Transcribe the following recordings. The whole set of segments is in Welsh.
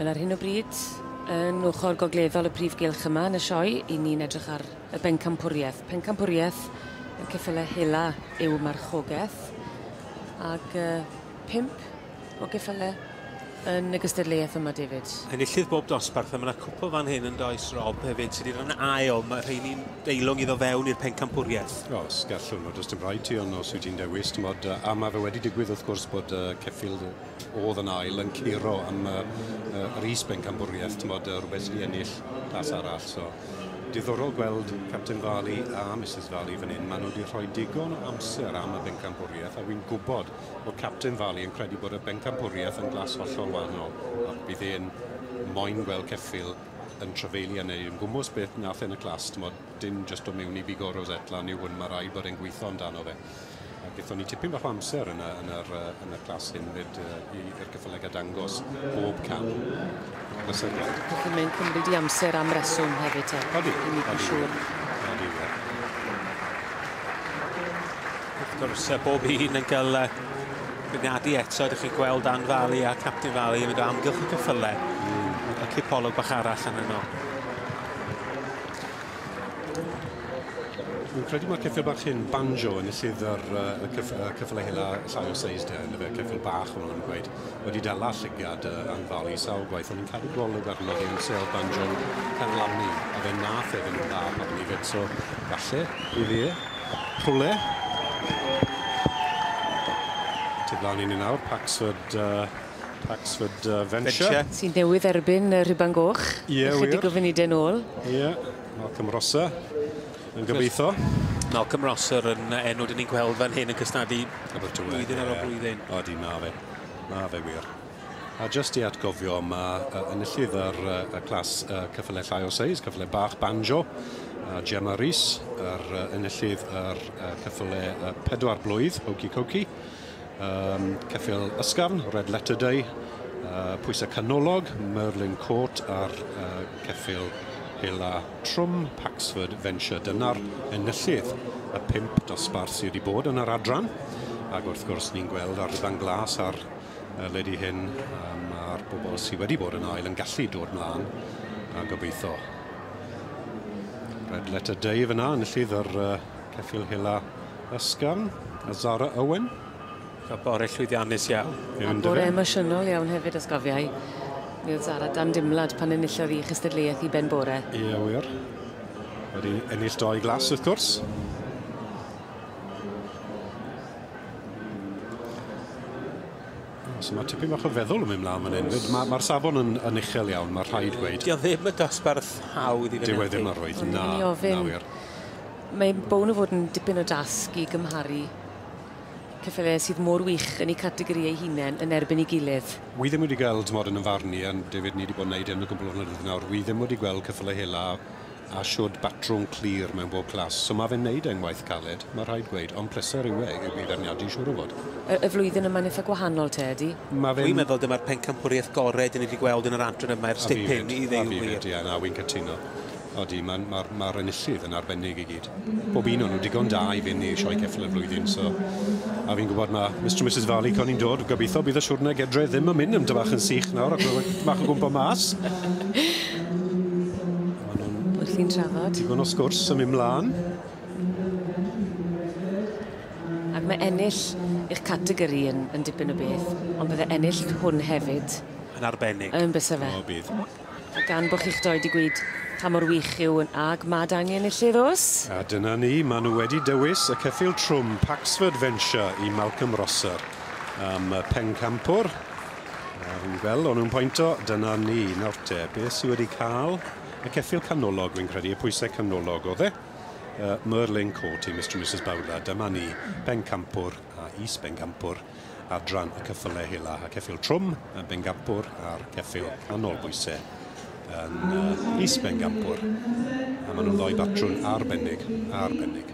Wel ar hyn o bryd, yn ochr gogleddol y prif gylch yma yn y sioe, 'yn ni'n edrych ar Y Bencampwriaeth. Pencampwriaeth y ceffylau hela yw marchogaeth ag yy pump o geffylau yn y gystadleuaeth yma David. Enillydd bob dosbarth a mae yna cwpl fan hyn yn does Rob hefyd sydd wedi dod yn ail. Mae rheini'n deilwng iddo fewn i'r pencampwriaeth. O, os gallwn, o does dim rhaid ti ond os wyt ti'n dewis, timod, yy, a mae fe wedi digwydd wrth gwrs bod yy ceffyl oedd yn ail yn curo am yy yy yr is bencampwriaeth, timod, yy, rhywbeth sydd wedi ennill tas arall, so. Diddorol gweld Capten Farley a Misus Farley fan hyn. Maen nhw wedi rhoi digon o amser am y bencampwriaeth a wy'n gwybod bod Capten Farley yn credu bod y bencampwriaeth yn glas hollol wahanol a bydd e'n moyn gweld ceffyl yn trafeili a neu yn gwmws beth nath e'n y clas, t'mod, dim jyst o mewn i bigo Rosette lan yw hwn, mae rhaid bod e'n gweithio amdano fe. A gethon ni tipyn bach o amser yn y, yn yr, uh, yn y clas hyn fyd uh, i'r cyffyllegau dangos bob cam plesergar. Felly mae'n cymryd i amser am reswm hefyd te. Odi. I mi yn siŵr. Odi, ie. Wrth gwrs, bob un yn cael bwriadu eto, ydych chi'n gweld Dan Fali a Captain Fali yn mynd o amgylch y cyffylau. Mm. A cipolwg bach arall yn yno. Fi'n credu mae'r ceffyl bach hyn, banjo, yn y sydd yr uh, cyff, uh, cyffle hela llai o seis de, yn y fe ceffyl bach hwn yn gweud, wedi dala llygiad uh, anfalu sawl gwaith, ond ni'n cadw golwg arno fi yn sel banjo carlamu, a fe nath efe nhw'n dda pan ni fed, so falle, i fi, rhwle. Tyd lan i ni nawr, Paxford, uh, Paxford uh, Venture. Venture. Sy'n newydd erbyn y rhiban goch. Ie, yeah, wir. Ychydig o funudau nôl. Ie. Yeah. Malcolm Rosser yn gobeithio. Malcolm Rosser yn enw dyn ni'n gweld fan hyn yn cysnadu blwyddyn ar ôl blwyddyn. Odi, mae fe. Mae fe wir. A just i atgofio, mae uh, enillydd yr uh, clas uh, cyffle llai o seis, cyffle bach banjo, a Gemma Rees, yr uh, enillydd yr uh, cyffle uh, pedwar blwydd, Hokey Cokey. um, ceffyl ysgafn, red letter day, uh, pwysau canolog, Merlin Court a'r uh, ceffyl hela trwm, Paxford Venture. Dyna'r enillydd y pimp dosbarth sydd wedi bod yn yr adran. Ac wrth gwrs ni'n gweld ar rydan glas ar uh, ledi hyn um, a'r bobl sydd wedi bod yn ail yn gallu dod mlaen a gobeithio. Red letter day fyna, enillydd yr uh, Ceffyl Hela Ysgafn a Zara Owen. Cael bore llwyddiannus iawn. A bore emosiynol iawn hefyd os cofiai. Mi oedd Zara dan dimlad pan enillodd i chystadleuaeth i ben bore. Ie wir. Wedi ennill doi glas wrth gwrs. So mae tipyn bach o feddwl yn mynd mlaen fan hyn. Mae'r ma, ma safon yn, yn uchel iawn, mae rhaid gweud. Dio ddim y dosbarth hawdd i fynychu. Dyw e ddim arwydd, na, na wir. Mae'n bown o fod yn dipyn o dasg i gymharu ceffylau sydd mor wych yn eu categori eu hunain yn erbyn ei gilydd. Wi ddim wedi gweld, timod, yn 'y mharn i, a David, ni 'di bod yn neud hyn o gwbwl o flynyddoedd nawr, wi ddim wedi gweld ceffylau hela a shwd batrwm clir mewn bob class. So ma' fe'n neud e'n waith caled, ma' rhaid gweud, ond pleser yw e i feirniadu siŵr o fod. Y y flwyddyn yma'n itha gwahanol te, ydi? Ma' fe'n... Wi'n meddwl dyma'r pencampwriaeth gore 'dyn ni 'di gweld yn yr adran yma ers dipyn i ddeu y gwir. A fi 'fyd, a fi 'fyd, ie, na, wi'n cytuno. Odi, ma'r ma'r ma'r enillydd yn arbennig i gyd. Bob un o'n nhw digon da i fynd i'r Sioe Ceffyl y flwyddyn, so a fi'n gwybod ma' Mister and Misus Varley coni'n dod, gobeithio bydd y siwrne gedre ddim yn mynd yn dybach yn sych nawr ac ma' tipyn bach o gwmpo mas. Ma' nhw'n... Wrthi'n trafod. Digon o sgwrs yn mynd mlan. Ac mae ennill eich categori yn yn dipyn o beth, ond bydde ennill hwn hefyd... Yn arbennig. ...yn byse fe? O bydd. A gan bo chi'ch doi 'di gweud pa mor wych yw yn ag mad angen i'r lle ddos. A dyna ni, ma' nhw wedi dywys y ceffyl trwm Paxford Venture i Malcolm Rosser am y pencampwr. A fi'n gweld o'n nhw'n pointo, dyna ni. Nawr te, be sy wedi cael y ceffyl canolog, fi'n credu, y pwysau canolog oedd e? Uh, Merlin Court i Mr and Mrs Bowler, dyma ni, pencampwr. a Is Bencampwr, adran y cyffyle hela, a Ceffyl Trwm yn Bencampwr a'r Ceffyl Canol Bwyse yn Is Bencampwr, a maen nhw'n ddoi batrwn arbennig, arbennig.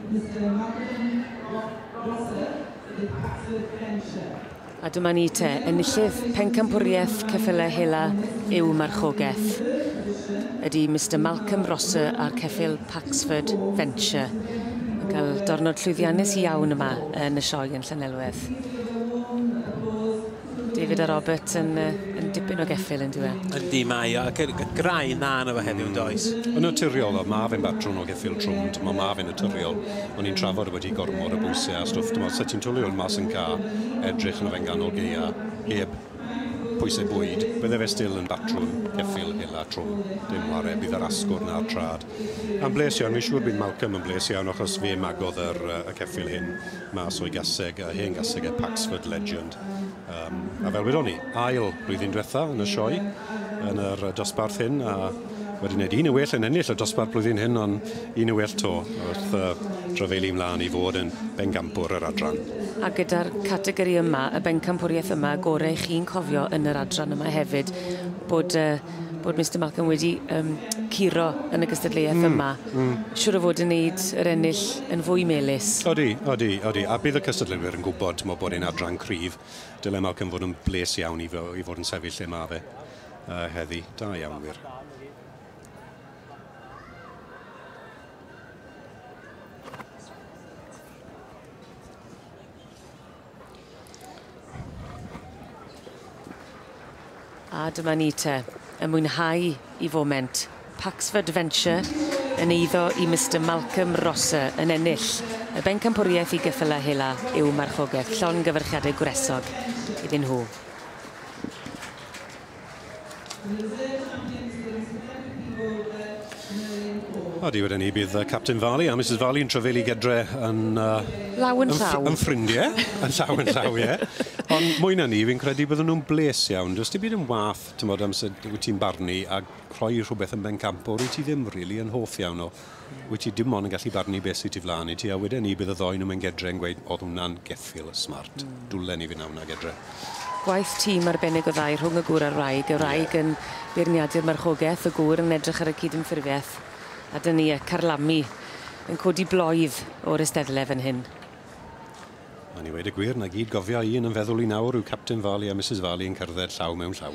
A dyma ni te, enillydd Pencampwriaeth Ceffyle Hela yw Marchogaeth. Ydy Mister Malcolm Rosser a'r Ceffyl Paxford Venture yn cael dornod llwyddiannus iawn yma yn y sioe yn Llanelwedd. David a Robert yn, yn dipyn o geffyl yn diwe. Yndi, mae o, ac y graen na yna fo heddiw yn does? Yn naturiol, o, mae fe'n batrwm o geffyl trwm, dyma mae fe'n naturiol. O'n i'n trafod wedi gormod o bwysau a stwff, dyma sut ti'n twli hwn mas yn ca, edrych yna fe'n ganol geia, heb Pwysau bwyd, bydde fe still yn batrwn ceffyl hela trwm, dim whare, bydd yr asgwrn a'r trad yn bles iawn, fi'n siŵr bydd Malcolm yn bles iawn achos fe magodd yr y ceffyl hyn mas o'i gaseg, y hen gaseg e, Paxford Legend, yym, a fel wedon ni, ail blwyddyn dwetha yn y sioe, yn yr dosbarth hyn, a Wedi wneud un yn well yn ennill y dosbarth blwyddyn hyn ond un yn well 'to wrth yy rhyfeili mlan i fod yn bencampwr yr adran. A gyda'r categori yma, y bencampwriaeth yma, y gore chi'n cofio yn yr adran yma hefyd bod yy bod Mister Malcolm wedi yym curo yn y gystadleuaeth hmm, yma. Hmm. Siŵr o fod yn neud yr ennill yn fwy melys. Odi, odi, odi. A bydd y cystadleuwyr yn gwybod mo bod e'n adran cryf. Dyle Malcolm fod yn bles iawn i fo- i fod yn sefyll lle ma' fe. Uh, heddi, da iawn wir. A dyma ni te, y mwynhau i foment. Paxford Adventure yn eiddo i Mr Malcolm Rosser yn ennill y bencampwriaeth i geffylau hela yw marchogaeth llon gyfyrchiadau gwresog iddyn nhw. A diwedd yn ni bydd uh, Captain Farley a Mrs Farley yn trefelu gydre yn... Uh, law yn llaw. Yn ffrindiau, yn llaw yn llaw, ie. Ond mwy na ni, fi'n credu byddwn nhw'n bles iawn. Does dim byd yn wath, ti'n bod, amser wyt ti'n barnu a rhoi rhywbeth yn bencampwr i ti ddim rili really yn hoff iawn o. Wyt ti dim ond yn gallu barnu beth sy tu flaen i ti a wedyn ni bydd y ddou nhw mewn gedre yn gweud oedd hwnna'n geffyl smart. Dwlen ni fyn' na wnna gedre. Gwaith tîm arbennig o dda i rhwng y gŵr a'r wraig, y wraig yn beirniadu'r marchogeth, y gŵr yn edrych ar y cydymffurfiaeth, a dyna ni, y carlamu yn codi bloedd o'r eisteddle fan hyn. Mae'n i weud y gwir, 'na gyd gofia i un yn feddwl i nawr yw Capten Farley a Misus Farley yn cerdded llaw mewn llaw.